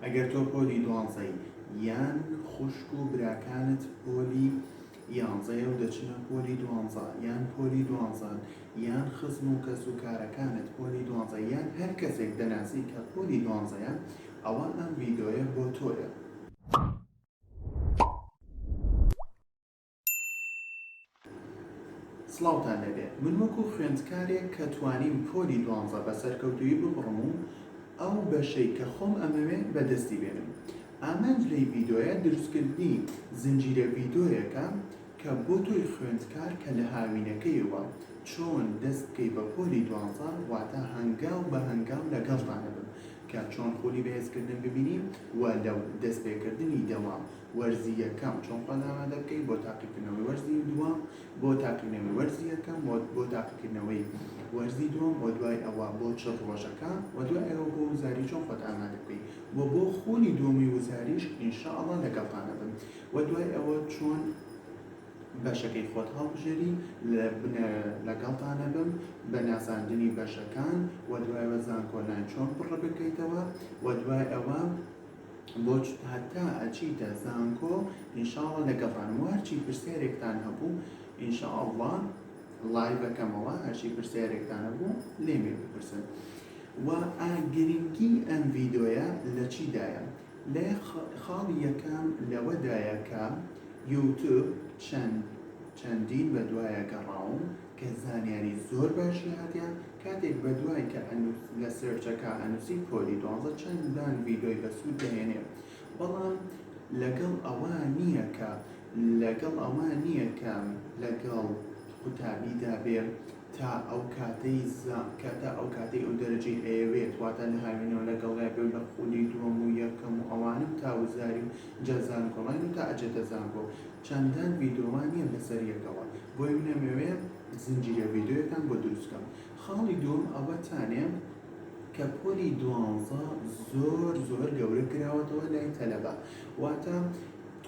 ئەگەر تۆ پۆلی دوانزەی یان خوشک و براکانت پۆلی یانزەیە و دەچنە پۆلی دوانزە یان پۆلی دوانزەن یان خزم و کەس و کارەکانت پۆلی دوانزە یان هەر کەسێک دەناسی کە پۆلی دوانزەیە ئەوا ئەم ڤیدۆیە بۆ تۆیە. سڵاوتان لێبێ من وەکو خوێندکارێک کە توانیم پۆلی دوانزە بە سەرکەوتوویی ببڕم و ئەو بەشەی کە خۆم ئەمەوێ بەدەستی بێنم ئامانج لەی ڤیدۆیە دروستکردنی زنجیرە ڤیدۆیەکە کە بۆ تۆی خوێندکار کە لە هاوینەکەیەوە چۆن دەست بکەی بە پۆلی دوانزە واتا هەنگاو بە هەنگاو لەگەڵتان ئەبم کە چۆن خولی بەهێزکردن ببینی و لە دەست پێکردنی دەوام وەرزی یەکەم چۆن خۆت ئامادە بکەیت بۆ تاقیکردنەوەی وەرزی دووەم، بۆ تاقیکردنەوەی وەرزی یەکەم و بۆ تاقیکردنەوەی وەرزی دووەم و دوای ئەوە بۆ چل ڕۆژەکە و دوای ئەوە بۆ وزاری چۆن خۆت ئامادە بکەیت و بۆ خولی دووەمی وزاریش ان شاء اللە لەگەڵتان ئەبم و دوای ئەوە چۆن بەشەکەی خۆت هەڵبژێری لەگەڵتان ئەبم بە ناساندنی بەشەکان و دوای ئەوە زانکۆلاین چۆن پڕبکەیتەوە و دوای ئەوە بۆچ هەتا ئەچیتە زانکۆ ئینشاڵا لەگەڵتانم وەرچی پرسیارێکتان هەبوو ئینشاءاللە لایڤەکەمەوە هەرچی پرسیارێکتان هەبوو لێمێ بپرسن و گرنگی ئەم ڤیدۆیە لە چیدایە لە خاڵی یەکەم لەوەدایە کە یوتوب چەند چەندین بە دوایە گەڕاوم کە زانیاری زۆر باشی هاتیان کاتێک بەدوای کە ئەنوس لە سێرچەکا ئەنوسی پۆلی دوانزە چەندان ڤیدۆی بەسود دەهێنێ بەڵام لەگەڵ ئەوە نیە کە لەگەڵ ئەوە نیە کە لەگەڵ قوتابیدا بێ تا ئەوکاتەی زا کە تا ئەوکاتەی ئەو دەرەجەی ئەیەوێت واتە لە هاوینەوە لەگەڵیا بێ و لە خولی دوەم و یەکەم و ئەوانەو تا وزاری و جا زانکۆڵاین و تا ئەجێتە زانکۆ چەندان ڤیدۆمان هەیە لەسەر یەکەوە بۆیە من ئەمەوێ زنجیرە ڤیدۆیەکان بۆ دروست بکەم خاڵی دووەم ئەوەتانێ کە پۆلی دوانزە زۆر زۆر گەورە کراوەتەوە لای تەلەبە واتە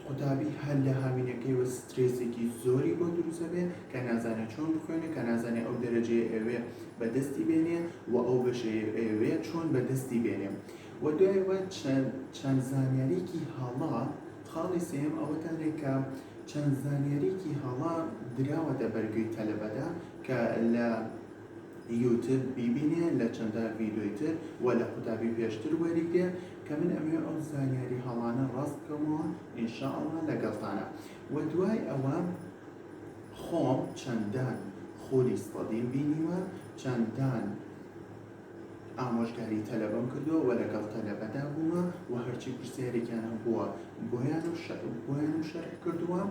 قوتابی هەر لە هاوینەکەیەوە سترێسێکی زۆری بۆ دروست ئەبێ کە نازانێ چۆن بخوێنێ کە نازانێ ئەو دەرەجەیە ئەوێ بەدەستی بێنێ و ئەو بەشەیە ئەوێ چۆن بەدەستی بێنێ و دوایەوە چەند چەند زانیاریکی هەڵە خاڵی سێیەم ئەوە دەڵێ کە چەند زانیاریەکی هەڵە دراوەتە بەر گوێی تەلەبەدا کە لە یوتب بیبینێ لە چەندە ڤیدۆی تر و لە قوتابی پێشتر وەریگرێ کە من ئەمەوێ ئەو زانیاری هەڵانە ڕاست بکەمەوە ئینشاءاللە لەگەڵتانە و دوای ئەوە خۆم چەندان خولی سەدیم بینیوە چەندان ئامۆژگاری تەلەبەم کردووە و لەگەڵ تەلەبەدا بوومە و هەرچی پرسیارێکیان هەبووە بۆیانم شەرح کردووە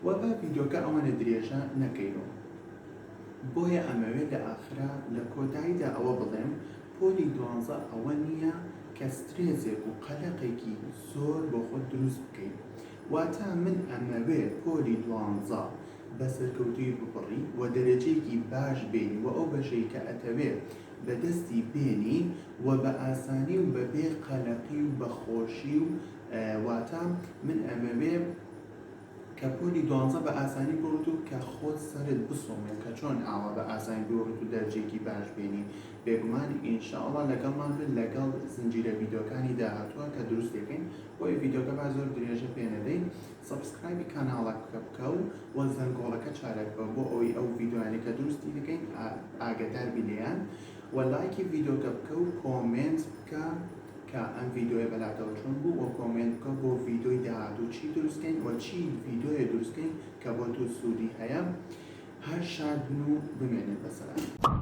و با ڤیدۆکە ئەوەنە درێژە نەکەینەوە بۆیە ئەمەوێ لە ئاخرا لە کۆتاییدا ئەوە بڵێم پۆلی دوانزە ئەوە نییە کە سترێزێک و قەلەقێکی زۆر بۆ خۆت دروست بکەی واتە من ئەمەوێ پۆلی دوانزە بە سەرکەوتووی ببڕی و دەرەجەیەکی باش بێنی و ئەو بەشەی کە ئەتەوێ بە دەستی بێنی و بە ئاسانی و بە بێ قەلەقی و بە خۆشی و واتە من ئەمەوێ کە پۆلی دوانزە بە ئاسانی ببڕیت و کە خۆت سەرت بسوڕمێ کە چۆن ئاوا بە ئاسانی ببڕیت و دەرجەیەکی باش بێنی بێگومان ان شاء اللە لەگەڵمان بن لەگەڵ زنجیرە ڤیدۆکانی داهاتووە کە دروست دەکەین بۆیە ڤیدۆکە با زۆر درێژە پێ نەدەی سەبسکرایبی کاناڵەکە بکە و وە زەنگۆڵەکە چارە بکەوە بۆ ئەوەی ئەو ڤیدۆیانەی کە دروستی دەکەین ئاگەدار بی لێیان وە لایکی ڤیدۆکە بکە و کۆمێنت بکە کە ئەم ڤیدۆیە بەلاتەوە چۆن بوو وە کۆمێنت بکە بۆ ڤیدۆی داهاتوو چی دروست کەین وە چی ڤیدۆیە دروست کەین کە بۆ توو سوودی هەیە هەر شاد بن و بمێنن بەسەلامەتی.